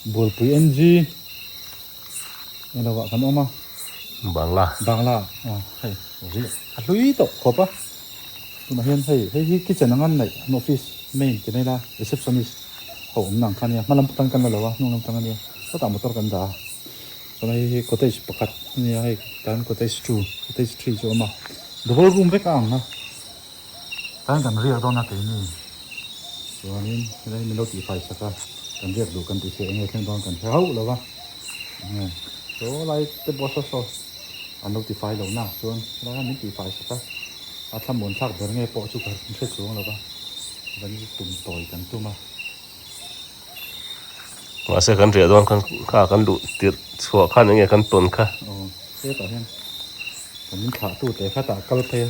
Bualpui NG eng lovah kan awm a. Bangla. Bangla a hei ri a hlui tawh khawp a tunah hian hei hei hi kitchen anga an neih an office main ti mai la receptionist ho awmna ang kha nia hmalam tan kan la lo a hnung lam tang ania sawtah motor kan dah a chuan hei hi cottage pakhat ania hei tah hian cottage two cottage three chu a awm a the whole room vek a ang a. Tlaiin kan riak dawn a keini chuanin helai min lo tih fai sak a kan riak duh kan tih pawh enge thleng dawn kan hre hauh lo va enge saw lai te pawh saw saw an lo ti fai lo nak chuan helai min tih fai sak a a thlamun thlak ber nge pawh chu kan hre chuang lo va kan tum tawi kan tum a mahse kan riah dawn khan kha kan duh tirh chhuah khan enge kan tawn kha hetah hian kan min thlah tu te khatah kal phei a.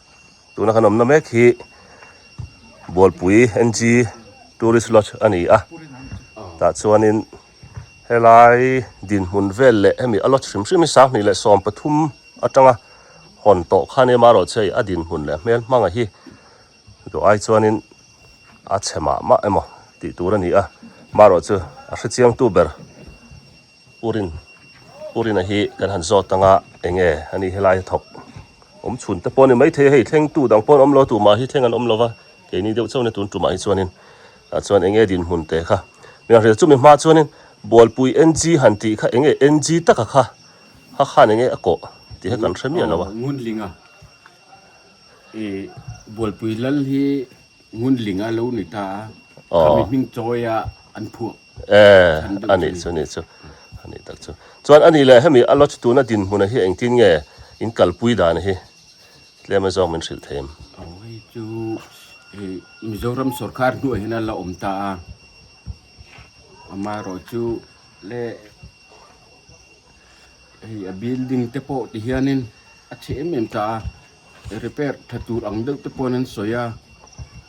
tuna kan awmna mek hi bualpui ng tourist lodge a ni a tah chuanin helai dinhmun vel leh hemi a lodge hrim hrim hi sanghnih leh sawm pathum atanga hawn tawh khan em a rawhchei a dinhmun leh hmel hmanga hi tawh ai chuanin a chhe mah mah emaw tih tur a ni a mah rawh chu a hre chiangtu ber. U Rin, U Rin a hi kan han zawt ang a, eng nge a nih helai a thawk awm chhun te pawh a ni, maithei hei thlengtu dang pawh an awm lo a, tumah hi thleng an awm lova, keini deuh chauh nge tun tumah hi chuanin tah chuan eng nge dinhmun te kha min hriat chu mi hma chuanin Bualpui NG han tih kha eng nge NG taka kha kha khan eng nge a kawh tih kha kan hre miah lo a. Ngunlinga, i Bualpui lal hi Ngunlinga lo ni ta a, kha mi hming chawi a an phuak. Eh, a nih chu, a nih chu. A nih tak chu. Chuan a nih leh, hemi a lodge tuna dinhmuna hi engtin nge in kalpui dan hi tlem a zawng min hrilh thei em? Aw, hei chu Mizoram sawrkar hnuai hian a la awm ta a, amaherawh chu le hei a building te pawh ti hianin a chhe em em ta a, repair tha tur ang deuh te pawhin an sawi a.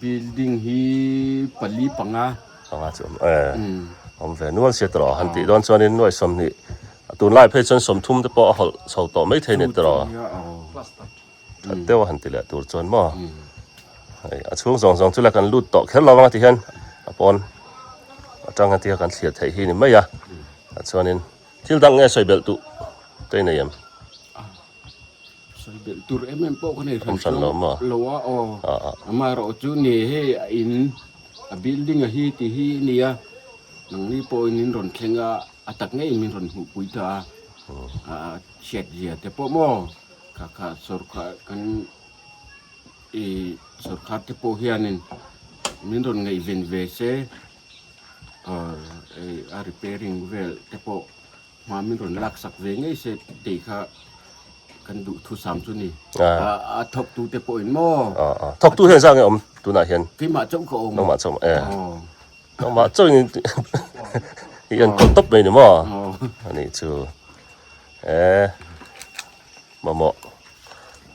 Building hi pali panga. Panga chu awm e. Awm ve nual sia tawh han tih dawn chuan in nuaih sawmhnih a tunlai phei chuan sawmthum te pawh a hawlh chho tawh mai thei a ni tawh a. That deuh a han ti leh tur chuan maw. Hei a chhung zawng zawng chu la kan lut tawh kher lo ang ti hian a pawn atang a tia kan thliar theih hi a ni mai a. Tah chuan in thil dang nge sawi belh tu te nei em. Sawi belh tur em em pawh ka nei hran hran lo mah lo a aw ama erawh chu nge he a in a building a hi tih hi a nia nangni pawhin min rawn thleng a a tak ngei min rawn hmuhpui ta a a hriatzia te pawh maw kha kha sorkar kan i sorkar te pawh hianin min rawn ngaih ven ve se a repairing vel te pawh Hma min rawn lak sak ve ngei se tih kha kan duh thu sam chu ni. A thawk tu te pawhin maw? Thawk tu hian zang e om tunah hian. Keimah chauh ka awm. Nangmah chauh e. Nangmah chauh in hian kawt top mai ni maw? A nih chu. E mamawh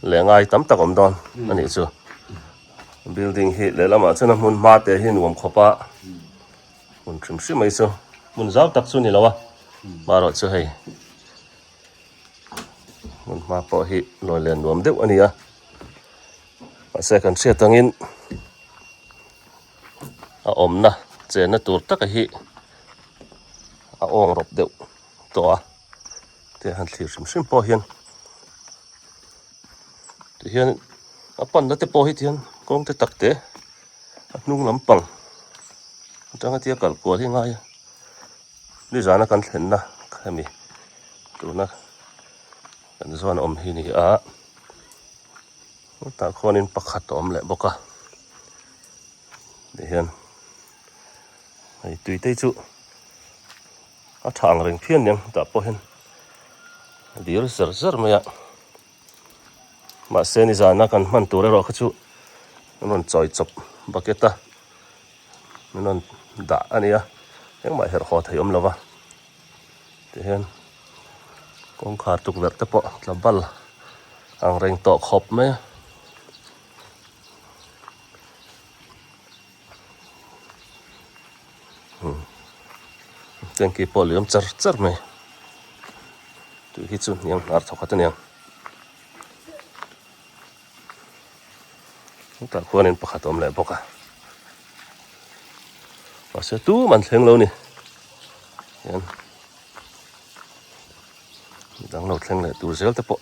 leh ngai tam tak awm dawn a nih chu. Building hi lehlamah chuan a hmun hma te hi nuam khawp a. Hmun hrim hrim mai chu hmun zau tak chu ni lo a marawh chu hei hmun hma pawh hi nuai len nuam deuh a ni a mahse kan hriat angin a awmna chenna tur taka hi a awng rawp deuh tawh a. te han thlir hrim hrim pawh hian tihian a pan na te pawh hi tihian kawng te tak te a hnung lam pang atanga tia kal kual hi ngai a ni zana kan thlen na hemi tuna kan zawn awm hi ni a ta khawn in pakhat a awm leh bawk a tihian hei tui te chu a tha ang reng phian niang tah pawh hian a dir zer zer mai a mahse nizana kan hman tur erawh kha chu min rawn chawi chawp bucket a min rawn dah a nia engmah herh haw thei awm lo va tihian kawngkhar tukverh te pawh tla bal ang reng tawh khawp mai a tanky pawh liam char char mai tui hi chu niam nghar thawk at a nia hetah khuan in pakhat a awm leh bawk a mahse tum an thleng lo ni hian danglo thleng leh tur zel te pawh.